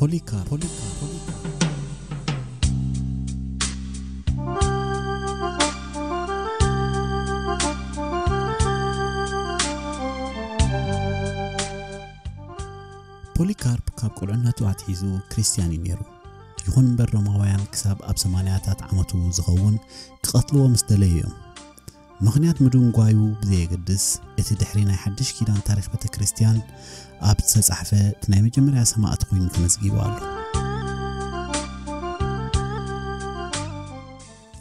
ፖሊካር ፖሊካር ፖሊካር ፖሊካርፕ ካብ ቁልዕነቱ ኣትሒዙ ክርስትያን እዩ ነይሩ ይኹን እምበር ሮማውያን ክሳብ ኣብ ሰማንያታት ዓመቱ ዝኸውን ክቐትልዎ ምስ ደለዩ እዮም ምኽንያት ምድንጓዩ ብዘየገድስ፣ እቲ ድሕሪ ናይ ሓድሽ ኪዳን ታሪኽ ቤተ ክርስቲያን ኣብ ዝተጻሕፈ እቲ ናይ መጀመርያ ሰማእት ኮይኑ ተመዝጊቡ ኣሎ።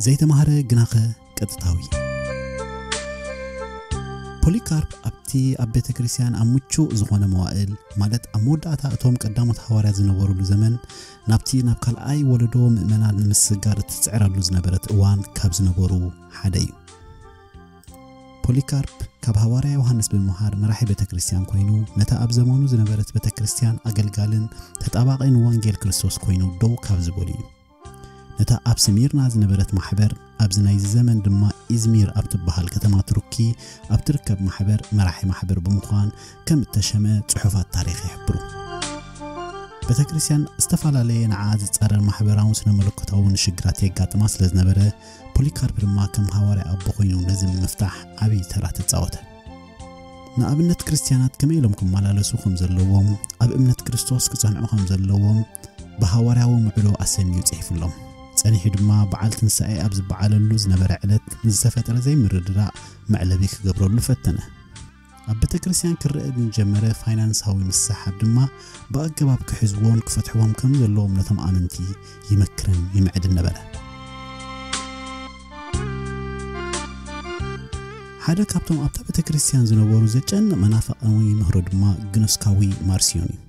ዘይተማህረ ግናኸ ቀጥታዊ ፖሊካርፕ ኣብቲ ኣብ ቤተ ክርስቲያን ኣብ ምቹእ ዝኾነ መዋእል ማለት ኣብ መወዳእታ እቶም ቀዳሞት ሃዋርያ ዝነበሩሉ ዘመን ናብቲ ናብ ካልኣይ ወለዶ ምእመናን ንምስጋር እትፅዕረሉ ዝነበረት እዋን ካብ ዝነበሩ ሓደ እዩ። ፖሊካርፕ ካብ ሃዋርያ ዮሃንስ ብምምሃር መራሒ ቤተ ክርስቲያን ኮይኑ ነታ ኣብ ዘመኑ ዝነበረት ቤተ ክርስቲያን ኣገልጋልን ተጣባቒን ወንጌል ክርስቶስ ኮይኑ ደው ካብ ዝበሉ እዩ። ነታ ኣብ ስሚርና ዝነበረት ማሕበር ኣብዚ ናይዚ ዘመን ድማ ኢዝሚር ኣብ ትበሃል ከተማ ቱርኪ ኣብ ትርከብ ማሕበር መራሒ ማሕበር ብምዃን ከም እተሸመ ጽሑፋት ታሪኽ ይሕብሩ ቤተ ክርስቲያን ዝተፈላለየ ንዓ ዝጻረር ማሕበራውን ስነ መለኮታውን ሽግራት የጋጥማ ስለ ዝነበረ ፖሊካርፕ ድማ ከም ሃዋርያ ኣቦ ኮይኑ ነዚ ንምፍታሕ ዓብዪ ተራ ተጻወተ። ንኣብነት ክርስትያናት ከመይ ኢሎም ክመላለሱ ከም ዘለዎም፣ ኣብ እምነት ክርስቶስ ክጸንዑ ከም ዘለዎም ብሃዋርያዊ ምዕዶ ኣሰንዩ ጽሒፍሎም። ጸኒሑ ድማ በዓል ትንሳኤ ኣብ ዝበዓለሉ ዝነበረ ዕለት ንዝተፈጥረ ዘይምርድዳእ መዕለቢ ክገብረሉ ፈተነ። ኣብ ቤተክርስትያን ክረኣ ዝጀመረ ፋይናንሳዊ ምስሕሓብ ድማ ብኣገባብ ክሕዝዎን ክፈትሕዎም ከም ዘለዎም ነቶም ኣመንቲ ይመክርን ይምዕድን ነበረ። ሓደ ካብቶም ኣብታ ቤተክርስትያን ዝነበሩ ዘጨንቕ መናፍቕ እውን ይምህሮ ድማ ግኖስካዊ ማርሲዮን እዩ።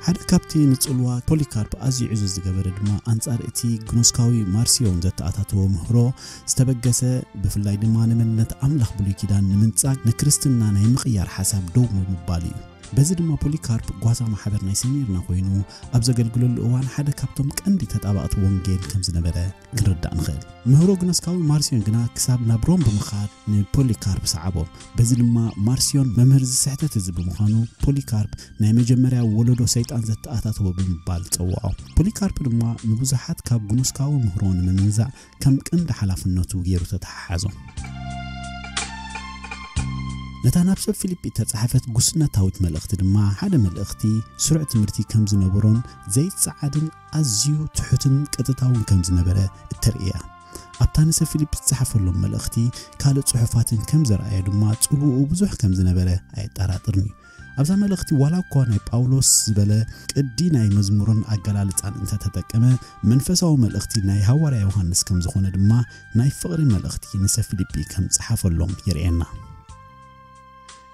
ሓደ ካብቲ ንጽልዋ ፖሊካርፕ ኣዝዩ ዕዙዝ ዝገበረ ድማ ኣንጻር እቲ ግኖስካዊ ማርሲዮን ዘተኣታተዎ ምህሮ ዝተበገሰ ብፍላይ ድማ ንመንነት ኣምላኽ ብሉይ ኪዳን ንምንጻግ ንክርስትና ናይ ምቕያር ሓሳብ ደው ብምባሉ እዩ። በዚ ድማ ፖሊካርፕ ጓሳ ማሕበር ናይ ሰሚርና ኮይኑ ኣብ ዘገልግለሉ እዋን ሓደ ካብቶም ቀንዲ ተጣበቕቲ ወንጌል ከም ዝነበረ ክንርዳእ ንኽእል። ምህሮ ግኖስካዊ ማርሲዮን ግና ክሳብ ናብ ሮም ብምኻድ ንፖሊካርፕ ሰዓቦ። በዚ ድማ ማርሲዮን መምህር ዝስሕተት እዚ ብምዃኑ ፖሊካርፕ ናይ መጀመርያ ወለዶ ሰይጣን ዘተኣታተወ ብምባል ጸውዖ። ፖሊካርፕ ድማ ንብዙሓት ካብ ግኖስካዊ ምህሮ ንምምንዛዕ ከም ቀንዲ ሓላፍነቱ ገይሩ ተተሓሓዞ። ነታ ናብ ሰብ ፊልጲ እተጻሕፈት ጉስነታዊት መልእኽቲ ድማ ሓደ መልእኽቲ ስሩዕ ትምህርቲ ከም ዝነበሮን ዘይጸዓድን ኣዝዩ ትሑትን ቀጥታውን ከም ዝነበረ እተርእያ ኣብታ ንሰብ ፊልጵስ ዝጸሓፈሎም መልእኽቲ ካልእ ጽሑፋትን ከም ዘርኣዮ ድማ ጽልውኡ ብዙሕ ከም ዝነበረ ኣየጠራጥርን እዩ ኣብዛ መልእኽቲ ዋላ እኳ ናይ ጳውሎስ ዝበለ ቅዲ ናይ መዝሙርን ኣገላልጻን እንተ ተጠቀመ መንፈሳዊ መልእኽቲ ናይ ሃዋርያ ዮሃንስ ከም ዝኾነ ድማ ናይ ፍቕሪ መልእኽቲ ንሰብ ፊልጲ ከም ጸሓፈሎም የርእየና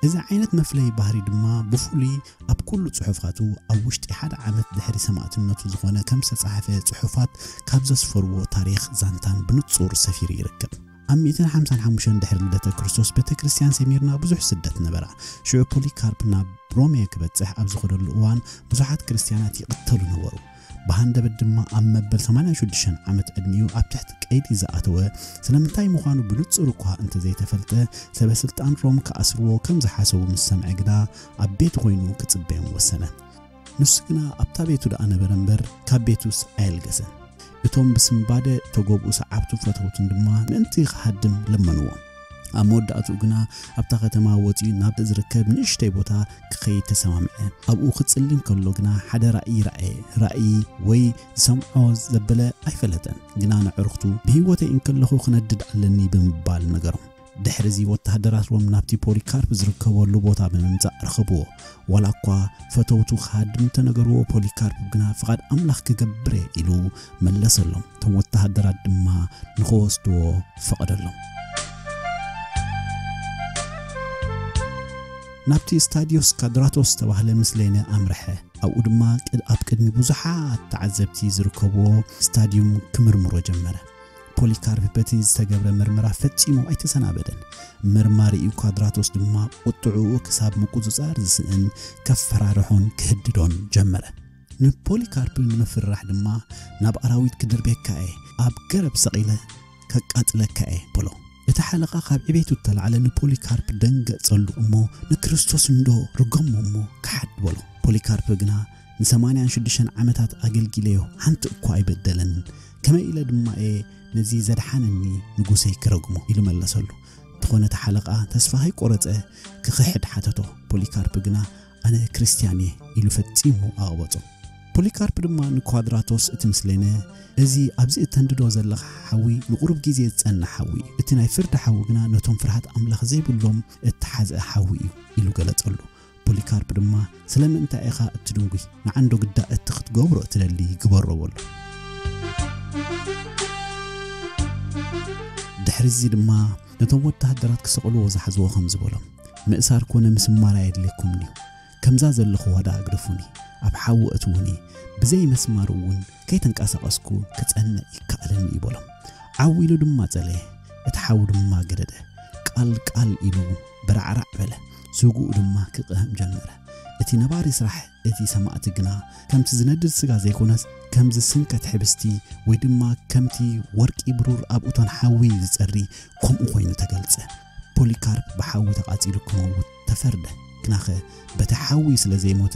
እዚ ዓይነት መፍለዪ ባህሪ ድማ ብፍሉይ ኣብ ኩሉ ጽሑፋቱ ኣብ ውሽጢ ሓደ ዓመት ድሕሪ ሰማእትነቱ ዝኾነ ከም ዝተጻሕፈ ጽሑፋት ካብ ዘስፈርዎ ታሪኽ ዛንታን ብንጹር ሰፊሩ ይርከብ። ኣብ ሚእትን ሓምሳን ሓሙሽተን ድሕሪ ልደተ ክርስቶስ ቤተ ክርስቲያን ሰሚርና ብዙሕ ስደት ነበራ። ሽዑ ፖሊካርፕ ናብ ሮሜ ክበጽሕ ኣብ ዝኸደሉ እዋን ብዙሓት ክርስቲያናት ይቕተሉ ነበሩ። ብሃንደበት ድማ ኣብ መበል ሰማንያን ሽዱሽተን ዓመት ዕድሚኡ ኣብ ትሕቲ ቀይዲ ዝኣተወ ስለምንታይ ምዃኑ ብንጹር እኳ እንተ ዘይተፈልጠ፣ ሰበ ስልጣን ሮም ክኣስርዎ ከም ዝሓሰቡ ምስ ሰምዐ ግና ኣብ ቤቱ ኮይኑ ክጽበዮም ወሰነ። ንሱ ግና ኣብታ ቤቱ ደኣ ነበረ እምበር ካብ ቤቱስ ኣየልገሰን። እቶም ብስንባደ እተጐብኡ ሰዓብቱን ፈተውቱን ድማ ምእንቲ ኽሃድም ለመንዎ። ኣብ መወዳእትኡ ግና ኣብታ ከተማ ወጺኡ ናብ ዝርከብ ንእሽተይ ቦታ ክኸይድ ተሰማምዐ። ኣብኡ ክጽሊ እንከሎ ግና ሓደ ራእይ ረኣየ። ራእይ ወይ ዝሰምዖ ዘበለ ኣይፈለጠን፣ ግና ንዕሩኽቱ ብህይወተይ እንከለኹ ክነድድ ኣለኒ ብምባል ነገሮም። ድሕሪ እዚ ወተሃደራት ሮም ናብቲ ፖሊካርፕ ዝርከበሉ ቦታ ብምምጻእ ረኸብዎ። ዋላኳ ፈተውቱ ክሃድም እንተነገርዎ ፖሊካርፕ ግና ፍቓድ ኣምላኽ ክገብር እየ ኢሉ መለሰሎም፣ እቶም ወተሃደራት ድማ ንኽወስድዎ ፈቐደሎም። ናብቲ ስታድዮስ ካድራቶስ ዝተባህለ ምስሌነ ኣምርሐ፣ ኣብኡ ድማ ኣብ ቅድሚ ብዙሓት ተዓዘብቲ ዝርከብዎ ስታድዩም ክምርምሮ ጀመረ። ፖሊካርፕ በቲ ዝተገብረ ምርመራ ፈጺሙ ኣይተሰናበደን። መርማሪኡ ኳድራቶስ ድማ ቁጥዕኡ ክሳብ ምቁጽጻር ዝስእን ከፈራርሖን ክህድዶን ጀመረ። ንፖሊካርፕ ንምፍራሕ ድማ ናብ ኣራዊት ክድርቤካ እየ፣ ኣብ ገረብ ሰቒለ ከቃጽለካ እየ በሎ። እቲ ሓለቓ ካብ ዕቤቱ እተላዕለ ንፖሊካርፕ ደንገጸሉ እሞ ንክርስቶስ እንዶ ርገሞ እሞ ክሓድ በሎ። ፖሊካርፕ ግና ንሰማንያን ሽዱሽተን ዓመታት ኣገልጊለዮ ሓንቲ እኳ ኣይበደለን ከመይ ኢለ ድማ እየ ነዚ ዘድሓነኒ ንጉሰይ ክረግሞ ኢሉ መለሰሉ እንተኾነ እቲ ሓለቓ ተስፋ ሃይቆረፀ ክኽሕድ ሓተቶ ፖሊካርፕ ግና ኣነ ክርስትያን እየ ኢሉ ፈፂሙ ኣቕበፆ ፖሊካርፕ ድማ ንኳድራቶስ እቲ ምስሌነ እዚ ኣብዚ እተንድዶ ዘለኻ ሓዊ ንቑሩብ ግዜ ዝጸንሕ ሓዊ እዩ እቲ ናይ ፍርዲ ሓዊ ግና ነቶም ፍርሃት ኣምላኽ ዘይብሎም እተሓዝአ ሓዊ እዩ ኢሉ ገለጸሉ ፖሊካርፕ ድማ ስለምእንታይ ኢኻ እትድንጒ ንዓንዶ ግዳ እቲ ክትገብሮ እትደሊ ግበሮ በሎ ድሕሪ እዚ ድማ ነቶም ወተሃደራት ክሰቕልዎ ዝሓዝዎ ከም ዝበሎም ምእሳር ኮነ ምስማር ኣየድልየኩምን እዩ ከምዛ ዘለኹዋ ደኣ ኣግደፉኒ ኣብ ሓዊ እትውኒ ብዘይ መስማር እውን ከይተንቀሳቐስኩ ክጸንዕ ይከኣለኒ እዩ በሎም ዓው ኢሉ ድማ ጸለየ እቲ ሓዊ ድማ ገደደ ቃል ቃል ኢሉ በራዕራዕ በለ ስግኡ ድማ ክቕህም ጀመረ። እቲ ነባሪ ስራሕ እቲ ሰማእቲ ግና ከምቲ ዝነድድ ስጋ ዘይኮነስ ከም ዝስንከት ሕብስቲ ወይ ድማ ከምቲ ወርቂ ብሩር ኣብ እቶን ሓዊ ዝጸሪ ከምኡ ኮይኑ ተገልጸ። ፖሊካርፕ ብሓዊ ተቓጺሉ ክመውት ተፈርደ። ግናኸ በቲ ሓዊ ስለ ዘይሞተ